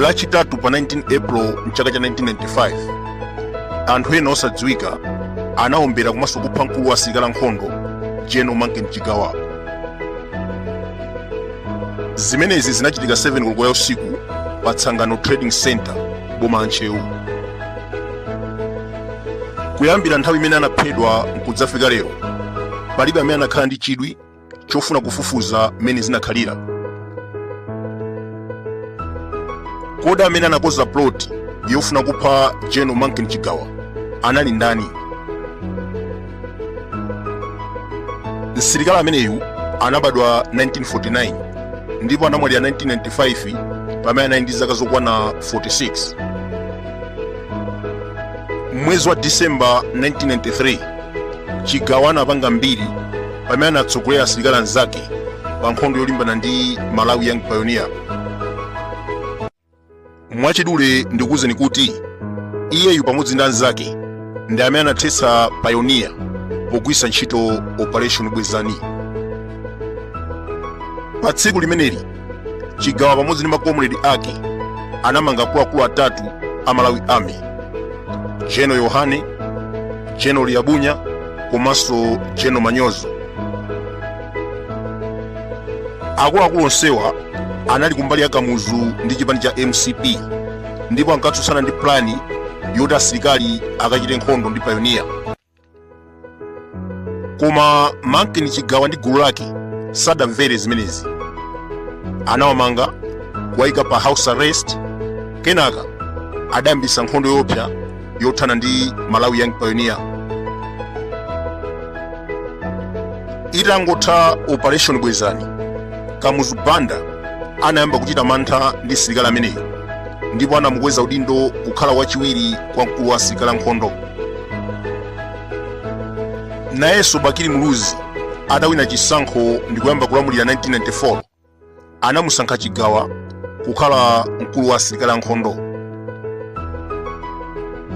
lachitatu pa 19 april mchaka cha 1995 anthu ena osadziwika anaombera komanso kupha mkulu wa asilikali ankhondo general mankin chigawa zimenezi zinachitika 7 koloko ya usiku pa tsangano trading center boma la ntcheu kuyambira nthawi imene anaphedwa nkudzafika lero palibe amene anakhala ndi chidwi chofuna kufufuza mmene zinakhalira kodi amene anakonza plot yofuna kupha general mankin chigawa anali ndani msilikali ameneyu anabadwa 1949 ndipo anamwalira 1995 pamene anali ndi zaka zokwana 46 mmwezi wa disemba 1993 chigawa anapanga mbiri pamene anatsogolera asilikali anzake pa nkhondo yolimbana ndi Malawi Young Pioneer. Mwachidule ndikuwuzeni kuti iyeyu pamodzi ndi anzake ndi amene anathetsa Pioneer pogwiritsa ntchito Operation Bwezani. Pa tsiku limeneli chigawa pamodzi ndi makomredi ake anamanga akuluakulu atatu a malawi army general yohane general liabunya komanso general manyozo akuluakulu onsewa anali kumbali ya kamuzu ndi chipani cha mcp ndipo ankatsutsana ndi plani yoti asilikali akachite nkhondo ndi payoniya koma mankin chigawa ndi gulu lake sadamvere zimenezi anawamanga kuwayika pa house arrest kenaka adayambitsa nkhondo yoopsa yothana ndi malawi young pioneer itangotha operation bwezani kamuzu banda anayamba kuchita mantha ndi msilikali ameneyo ndipo anamukweza udindo kukhala wachiwiri kwa mkulu wa asilikali ankhondo nayenso bakili muluzi atawina chisankho ndi kuyamba kulamulira 1994 anamusankha chigawa kukhala mkulu wa asilikali ankhondo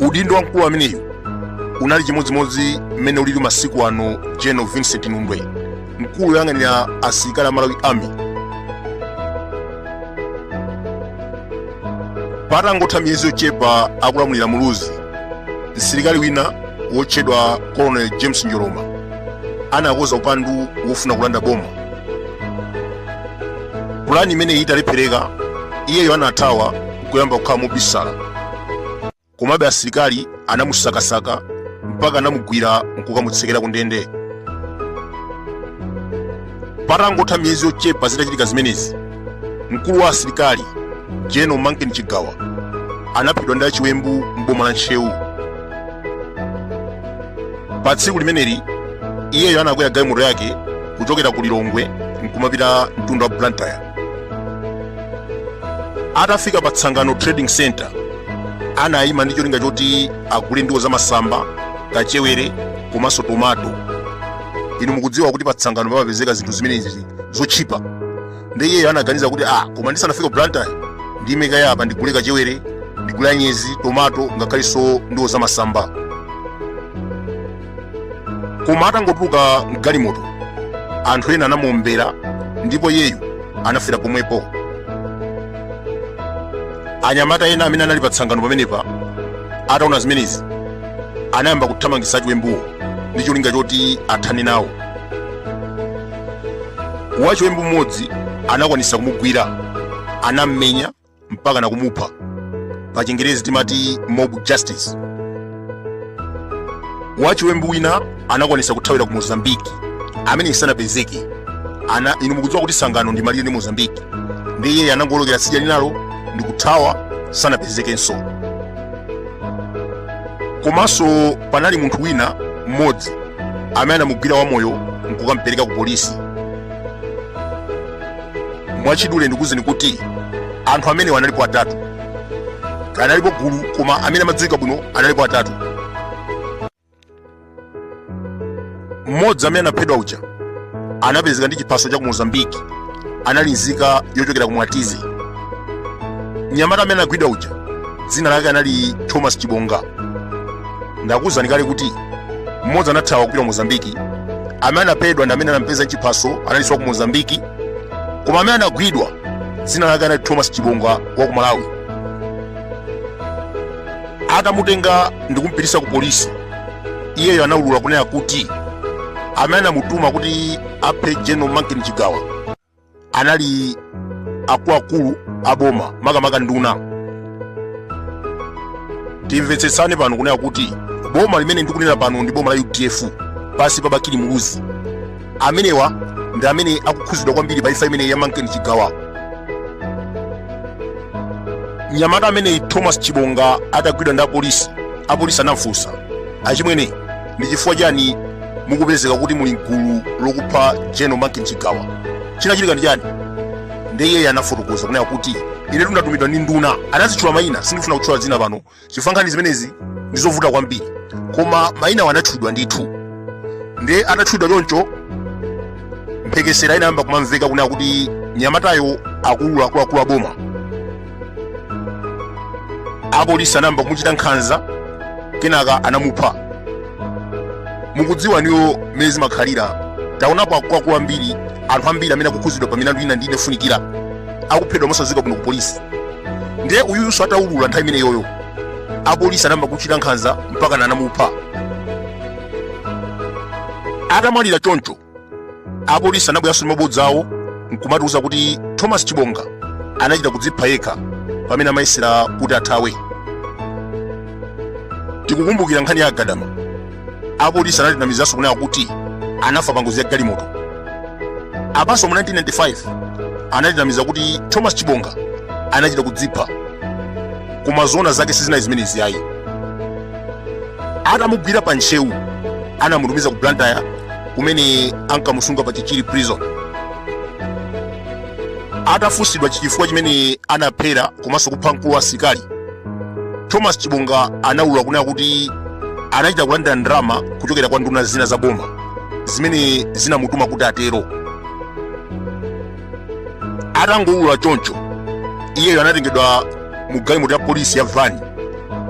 udindo wa mkulu ameneyu unali chimodzimodzi mmene ulili masiku ano general vincent nundwe mkulu woyang'anira asilikali a malawi army patangotha miyezi yochepa akulamulira muluzi msilikali wina wotchedwa colonel james njoloma anakonza upandu wofuna kulanda boma pulani imeneyi italephereka iyeyo anathawa kuyamba kukhala mobisala komabe asilikali anamusakasaka mpaka anamugwira nkukamutsekera ku ndende patangotha miyezi yochepa zitachitika zimenezi mkulu wa asilikali general manken chigawa anaphedwa ndi achiwembu m'boma la ntcheu pa tsiku limeneli iyeyo anakwera galimoto yake kuchokera ku lilongwe nkumapita mtunda wa blantyre atafika pa tsangano trading center anayima ndi cholinga choti agule ndiwo zamasamba kachewere komanso tomato inu mukudziwa kuti pa tsangano pamapezeka zinthu zimenezi zotchipa ndi iyeyo anaganiza kuti ah koma ndisanafike ku blantyre ndime kaye apa ndigule kachewere ndigule anyezi tomato ngakhalenso ndiwo zamasamba koma atangotuluka mgalimoto anthu ena anamuombera ndipo iyeyu anafera pomwepo anyamata ena amene anali pa tsangano pamenepa ataona zimenezi anayamba kuthamangitsa achiwembuwo ndi cholinga choti athane nawo wachiwembu mmodzi anakwanisa kumugwira anammenya mpaka na kumupha pa chingerezi timati mob justice wachiwembu wina anakwanisa kuthawira ku mozambiki amene sanapezeke aa inu mukudziwa kuti tsangano ndi malire ndi mozambiki ndiye iyeyo anangolokera tsidya linalo ndi kuthawa sanapezekenso komanso panali munthu wina mmodzi amene anamugwira wamoyo nkukampereka ku polisi mwachidule ndikuuzeni kuti anthu amenewa analipo atatu analipo gulu koma amene amadziwika bwino analipo atatu mmodzi amene anaphedwa uja anapezeka ndi chiphaso cha ku mozambiki anali nzika yochokera ku mwatizi mnyamata amene anagwidwa uja dzina lake anali thomas chibonga ndakuuzani kale kuti mmodzi anathawa kupita ku mozambiki amene anaphedwa ndi amene anampeza nchiphaso analinso wa ku mozambiki koma amene anagwidwa dzina lake anali thomas chibonga wa ku malawi atamutenga ndi kumpititsa ku polisi iyeyo anaulula kunena kuti amene anamutuma kuti aphe general manken chigawa anali akuluakulu aboma makamaka nduna timvetsetsane pano kunena kuti boma limene ndikunena pano ndi boma la udf pansi pa bakili muluzi amenewa ndi amene akukhudzidwa kwambiri pa imfa imeneyi ya manken chigawa mnyamata ameneyi thomas chibonga atagwidwa ndi apolisi anamfunsa achimwene ndi chifukwa chani mukupezeka kuti muli mgulu lokupha general manken chigawa chinachitika ndi chani ndiye iyeyo anafotokoza kunena kuti ine tu ndatumidwa ndi nduna anazitchula mayina sindifuna kutchula dzina pano chifukwa nkhani zimenezi ndi zovuta kwambiri koma mayinawo anatchulidwa ndithu ndiye atatchulidwa choncho mphekesera inayamba kumamveka kunena kuti nyamatayo akuluakulu aboma apolisi anayamba kumuchita nkhanza kenaka anamupha mukudziwa inuyo mmene zimakhalira taonapo akuluakulu ambiri anthu ambiri amene akukhudzidwa pa milandu ina ndi ina yofunikira akuphedwa mosadziwika bwino ku polisi ndiye uyunso ataulula nthawi imeneyoyo apolisi anayamba kumuchita nkhanza mpaka anamupha atamwalira choncho apolisi anabweranso ndi mabodza awo nkumatiuza kuti thomas chibonga anachita kudzipha yekha pamene amayesera kuti athawe tikukumbukira nkhani ya agadama apolisi anatinamizanso kunena kuti anafa pa ngozi ya galimoto apanso mu 1995 anatinamiza kuti thomas chibonga anachita kudzipha koma zoona zake sizinali zimenezi ayi atamugwira pa ntcheu anamutumiza ku blantyre kumene ankamusunga pa chichiri prison atafunsidwa chifukwa chimene anaphera komanso kupha mkulu wa asilikali thomas chibonga anaulula kunena kuti anachita kulandira ndalama kuchokera kwa nduna zina za boma zimene zinamutuma kuti atero atangoulula choncho iyeyo anatengedwa mu galimoto ya polisi ya vani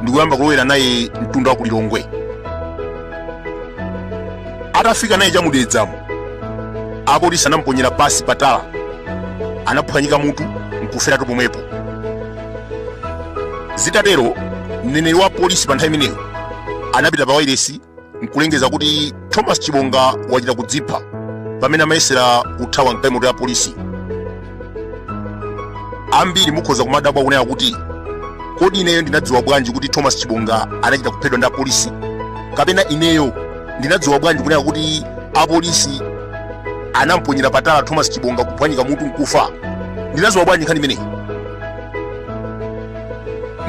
ndi kuyamba kulowera naye mtunda wa ku lilongwe atafika naye cha mu dedzamo apolisi anamuponyera pansi patala anaphwanyika mutu nkuferatu pomwepo zitatero mneneri wa polisi pa nthawi imeneyo anapita pa wailesi nkulengeza kuti thomas chibonga wachita kudzipha pamene amayesera kuthawa mgalimoto ya polisi ambiri mukhoza kumadabwa kunena kuti kodi ineyo ndinadziwa bwanji kuti thomas chibonga anachita kuphedwa ndi apolisi kapena ineyo ndinadziwa bwanji kunena kuti apolisi anamponyera patala thomas chibonga kuphwanyika mutu nkufa ndinadziwa bwanji nkhani imeneyi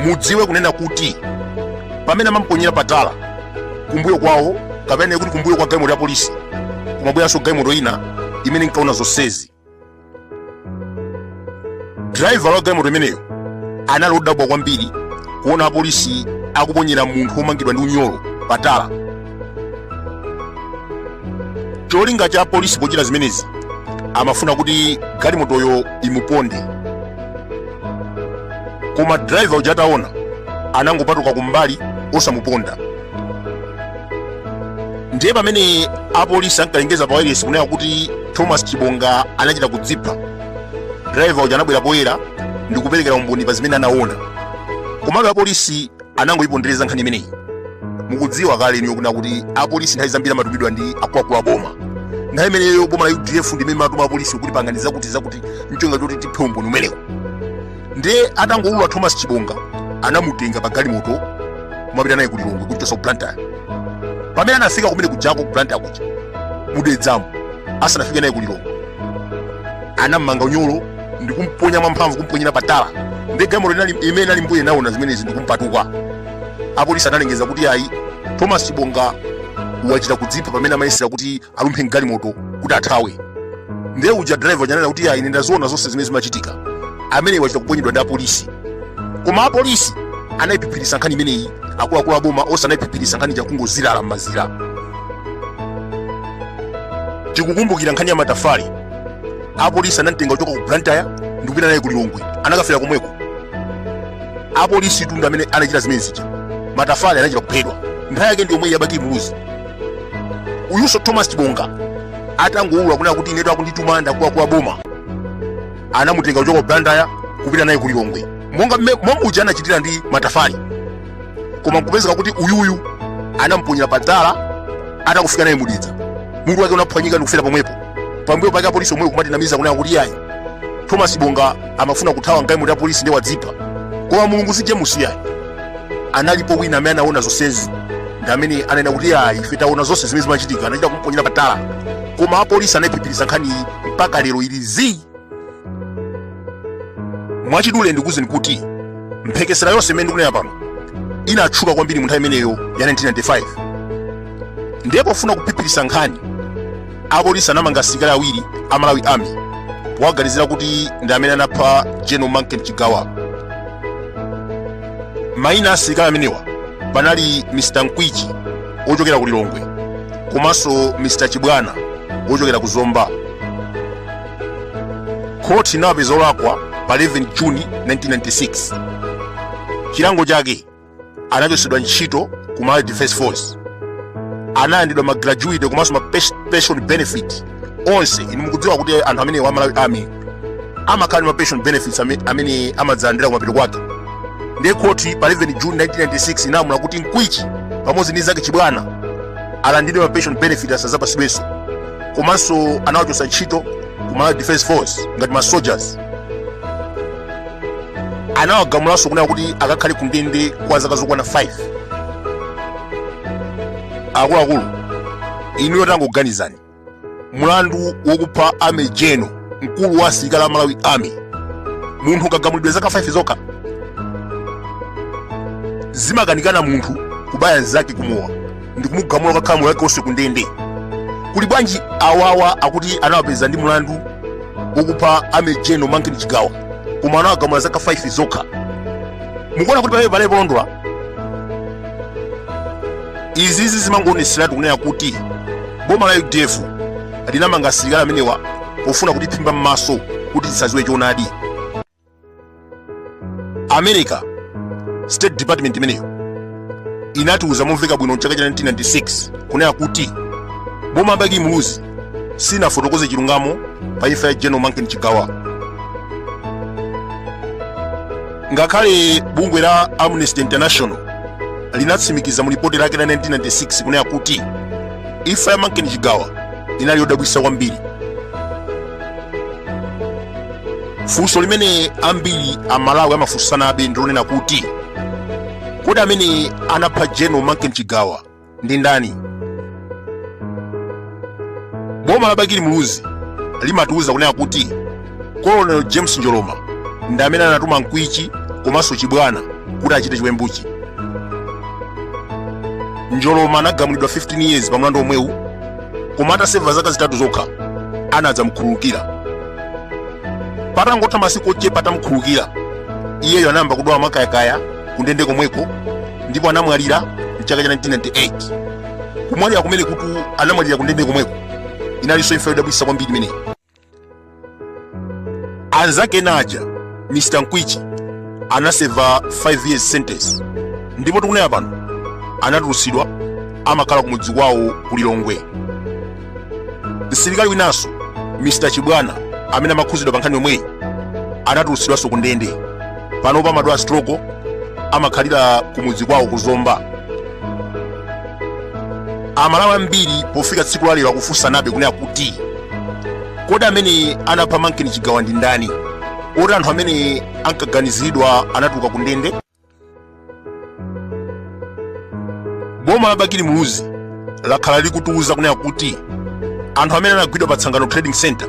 mudziwe kunena kuti pamene amamponyera patala kumbuyo kwawo kapena kuti kumbuyo kwa galimoto ya polisi kumabweranso galimoto ina imene inkaona zonsezi driver wa galimoto imeneyo anali odabwa kwambiri kuona apolisi akuponyera munthu womangidwa ndi unyolo patala cholinga cha apolisi pochita zimenezi amafuna kuti galimotoyo imuponde koma driver uja ataona anangopatuka kumbali osamuponda ndiye pamene apolisi ankalengeza pa wailesi kunena kuti thomas chibonga anachita kudzipha driver uja anabwera poyera ndi kuperekera umboni pa zimene anaona komabe apolisi anangoyipondereza nkhani imeneyi mukudziwa kale inuyo kunena kuti apolisi nthawi zambiri amatumidwa ndi akuluakulu a boma nthawi imeneyo boma la udf ndi imene imatuma apolisi kuti pangani zakuti zakuti cholinga choti tiphe umboni umenewu ndiye atangowulula thomas chibonga anamutenga pa galimoto kumapita naye ku lilongwe kuchokera ku blantyre pamene anafika kumene kujako ku blantyre kuja mu dedzamo asanafike naye ku lilongwe anammanga unyolo ndikumponya mwamphamvu kumponyera pa tala ndiye galimoto imene inali mbuyo inaona zimenezi ndikumpatuka apolisi analengeza kuti ayi thomas chibonga wachita kudzipha pamene amayesera kuti alumphe mgalimoto kuti athawe ndiye uja driver ananena kuti ayi ndaziona zonse zimene zimachitika ameneyu wachita kuponyedwa ndi apolisi koma apolisi anayiphiphiritsa nkhani imeneyi akuluakulu aboma onse anayiphiphiritsa nkhani ija kungozirala m'mazira tikukumbukira nkhani ya matafale apolisi anamtenga kuchoka ku blantyre ndikupita naye ku lilongwe anakafera komweko apolisi ndithu ndi amene anachita zimene zija matafale anachita kuphedwa nthawi yake ndi yomweyi ya bakili muluzi uyunso thomas chibonga atangowulula kunena kuti inetu akundituma ndi akuluakulu a boma anamutenga kuchoka ku blantyre kupita naye ku lilongwe monga mme- momwe uja anachitira ndi matafale koma kupezeka kuti uyuyu anamponyera pa tala atakufika naye mu dedza mutu wake unaphwanyika ndikufera pomwepo pambuyo pake apolisi omweyo kumatinamiza kunena kuti yayi thomas chibonga amafuna kuthawa mgalimoto ya apolisi ndiye wadzipha koma mulungu si james yayi analipo wina amene anaona zonsezi ndi amene ananena kuti yayi ife taona zonse zimene zimachitika anachita kumponyera pa tala koma apolisi anaiphiphiritsa nkhaniyi mpaka lero ili zii mwachidule ndikuuzeni kuti mphekesera yonse imene ndikunena pano inatchuka kwambiri mu nthawi imeneyo ya 1995 ndiye pofuna kuphiphiritsa nkhani apolisi anamanga asilikali awiri a malawi army powaganizira kuti ndi amene anapha general manken chigawa maina a asilikali amenewa panali mr nkwichi wochokera ku lilongwe komanso mr chibwana wochokera ku zomba khoti inawapeza olakwa pa 11 juni 1996 chilango chake anachotsedwa ntchito ku malawi defense force analandidwa ma gratuity komanso ma pes- pension benefit onse inu mukudziwa kuti anthu amenewa a malawi army amakhala ndi ma pension benefits ame- amene amadzalandira kumapeto kwake ndiye khoti pa 11 juni 1996 inalamula kuti nkwichi pamodzi ndi nzake chibwana alandidwe ma pension benefit asazapasidwenso komanso anawachotsa ntchito ku malawi defense force ngati ma soldiers anawagamulanso kunena kuti akakhale ku ndende kwa zaka zokwana 5 akuluakulu inuyo tangoganizani mulandu wokupha general mkulu wa asilikali a malawi army munthu nkugamulidwa zaka 5 zokha zimakanikana munthu kubaya nzake kumowa ndikumugamula kukakhala moyo wake onse ku ndende kuli bwanji awawa akuti anawapeza ndi mlandu wokupha general manken chigawa koma anawagamula zaka 5 zokha mukuona kuti pamenepo palibe polondola izizi zimangoonetseratu kunena kuti boma la udf linamanga asilikali amenewa pofuna kutiphimba m'maso kuti tisadziwe choonadi america state department imeneyo inatiuza momveka bwino mchaka cha 1996 kunena kuti boma la bakili muluzi silinafotokoze chilungamo pa imfa ya general manken chigawa ngakhale bungwe la amnesty international linatsimikiza mu lipoti lake la 1996 kunena kuti imfa ya manken chigawa inali yodabwitsa kwambiri funso limene ambiri amalawi amafunsanabe ndilonena kuti kodi amene anapha general manken chigawa ndi ndani boma la bakili muluzi limatiuza kunena kuti colonel james njoloma ndi amene anatuma nkwichi komanso chibwana kuti achite chiwembuchi njoloma anagamulidwa 15 years pa mlandu omwewu koma ataseva zaka zitatu zokha anadzamukhululukira patangotha masiku ochepa atamukhululukira iyeyo anayamba kudwala mwakayakaya kundende komweko ndipo anamwalira mchaka cha 1998 kumwalira kumeneku kuti anamwalira kundende komweko inalinso imfa yodabwitsa kwambiri imeneyi anzake ena aja mr nkwichi anaseva 5 years sentence ndipo tikunena pano anatulutsidwa amakhala kumudzi kwawo ku lilongwe msilikali winanso mr chibwana amene amakhuzidwa pa nkhani yomweyi anatulutsidwanso ku ndende panopa amadwala stroke amakhalira kumudzi kwawo ku zomba amalawi ambiri pofika tsiku la lero akufunsanabe kunena kuti kodi amene anapha manken chigawa ndi ndani poti anthu amene ankaganiziridwa anatuluka ku ndende boma la bakili muluzi lakhala likutiuza kunena kuti anthu amene anagwidwa pa tsangano trading center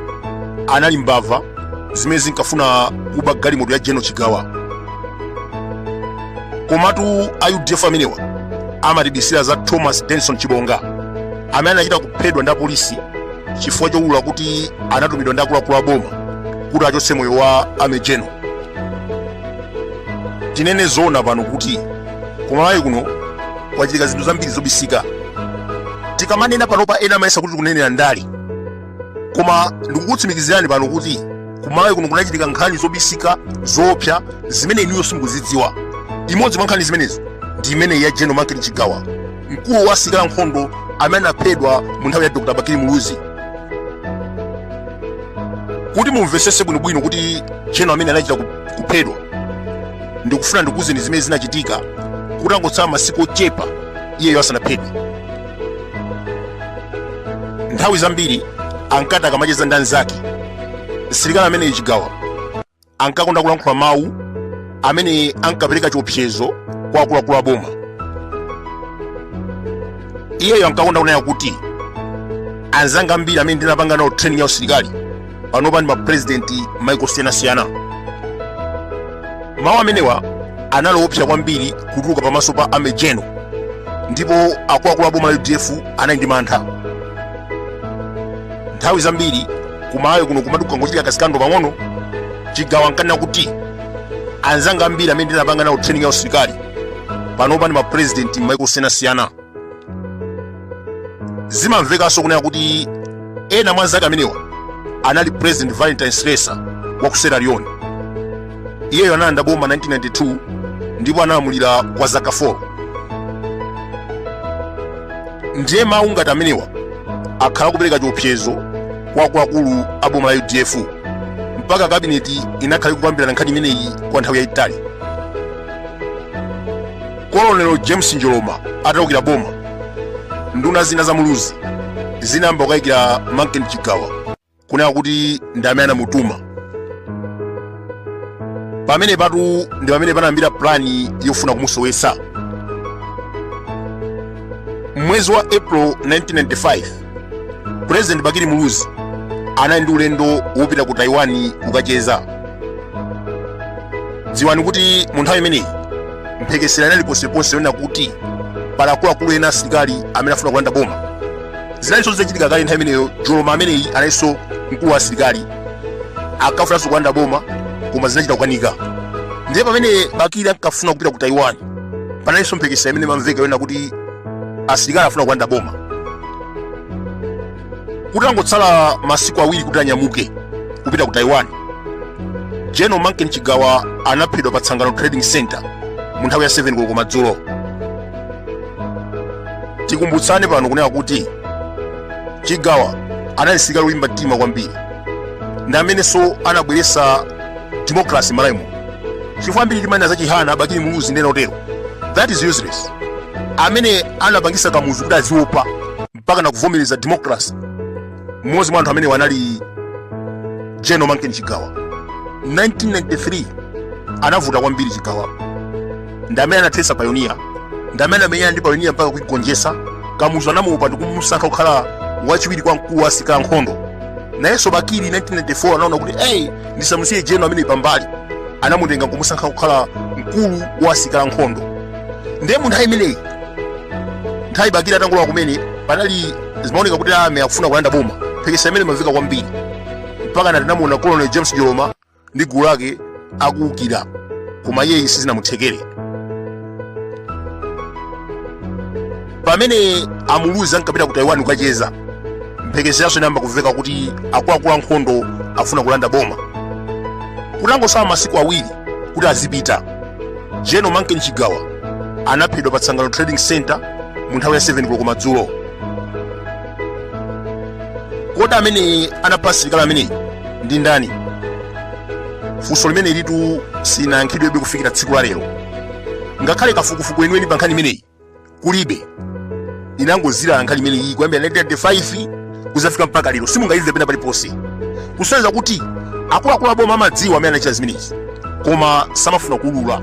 anali mbava zimene zinkafuna kuba galimoto ya general chigawa komatu a udf amenewa amatibisira za thomas denson chibonga amene anachita kuphedwa ndi apolisi chifukwa choulula kuti anatumidwa ndi akuluakulu a boma kuti achotse moyo wa army general tinene zoona pano kuti kumalawi kuno kwachitika zinthu zambiri zobisika tikamanena panopa ena amayesa kuti tikunenera ndale koma ndikukutsimikizirani pano kuti kumalawi kuno kunachitika nkhani zobisika zoopsa zimene inuyo simukuzidziwa imodzi mwa nkhani zimenezo ndi imeneyi ya general manken chigawa mkulu wa asilikali ankhondo amene anaphedwa mu nthawi ya dr bakili muluzi kuti mumvesese bwinobwino kuti general amene anachita ku- kuphedwa ndikufuna ndikuuzeni zimene zinachitika kutangotsala masiku ochepa iyeyo asanaphedwe nthawi zambiri ankati akamacheza ndi anzake msilikali ameneyo chigawa ankakonda kulankhula mawu amene ankapereka chiopsezo kwa akuluakulu a boma iyeyo ankakonda kunena kuti anzanga ambiri amene ndinapanga nawo training ya usilikali panopa ndi mapurezidenti maiko osiyanasiyana mawu amenewa anali oopsa kwambiri kutuluka pamaso pa army general ndipo akuluakulu a boma la udf anali ndi mantha nthawi zambiri kumalawi kuno kumati kukangochitika ka scandal pang'ono chigawa ankanena kuti anzanga ambiri amene ndinapanga nawo training ya usilikali panopa ndi mapurezidenti maiko osiyanasiyana zimamvekanso kunena kuti ena mwa anzake amenewa anali president valentine strasser wa ku sierra leone iyeyo analanda boma 1992 ndipo analamulira kwa zaka 4 ndiye mawu ngati amenewa akhala akupereka chiopsezo kwa akuluakulu a boma la udf mpaka kabineti inakhala ikukambirana nkhani imeneyi kwa nthawi yayitali colonel james njoloma ataukira boma nduna zina za muluzi zinayamba kukayikira manken chigawa kunena kuti ndi amene anamutuma pamenepatu ndi pamene panayambira pulani yofuna kumusowetsa mwezi wa april 1995 pulezidenti bakili muluzi anali ndi ulendo wopita ku taiwan kukacheza dziwani kuti mu nthawi imeneyi mphekesera inali ponseponse yonena kuti pali akuluakulu ena asilikali amene afuna kulanda boma zinalinso zitachitika kale nthawi imeneyo njoloma ameneyi analinso mkulu wa asilikali akafunanso kulanda boma koma zinachita kukanika ndiye pamene bakili ankafuna kupita ku taiwan panalinso mphekesera imene imamveka yonena kuti asilikali afuna kulanda boma kutangotsala masiku awiri kuti anyamuke kupita ku taiwan general manken chigawa anaphedwa pa tsangano trading center mu nthawi ya 7 koloko madzulo tikumbutsane pano kunena kuti chigawa anali msilikali wolimba mtima kwambiri ndi amenenso anabweretsa democracy m'malawimu chifukwa ambiri timanena za chihana bakili muluzi ndi ena otero that is useless amene anapangisa kamuzu kuti aziopa mpaka nakuvomereza democracy mmodzi mwa anthu amenewa anali general manken chigawa 1993 anavuta kwambiri chigawa ndi amene anathesa payoniya ndi amene anamenyana ndi payoniya mpaka kuigonjesa kamuzu anamuopa ndikumusankha kukhala wachiwiri kwa mkulu wa asirikali ankhondo nayenso bakili 1994 anaona kuti eyi ndisamusiye general ameneyi pambali anamutenga nkumusankha kukhala mkulu wa asilikali ankhondo ndiye mu nthawi imeneyi nthawi bakili atangolowa kumene panali zimaoneka kuti army akufuna kulanda boma mphekesera imene imamveka kwambiri mpaka natinamuona colonel james njoloma ndi gulu lake akuukira koma iyeyi sizinamuthekere pamene amuluzi ankapita ku taiwan kukacheza mphekeseranso inayamba kumveka kuti akuluakulu ankhondo afuna kulanda boma kutangosala masiku awiri kuti azipita general manken chigawa anaphedwa pa tsangano trading center mu nthawi ya 7 koloko madzulo kodi amene anapha msilikali ameneyi ndi ndani funso limenelitu silinayankhidwebe kufikira tsiku la lero ngakhale kafukufuku weniweni pa nkhani imeneyi kulibe inangozilala nkhani imene iyi kuyambira 1995 kuzafika mpaka lero simungaimve pena paliponse kusonyeza kuti akuluakulu aboma amadziwa amene anachita zimenezi koma samafuna kuulula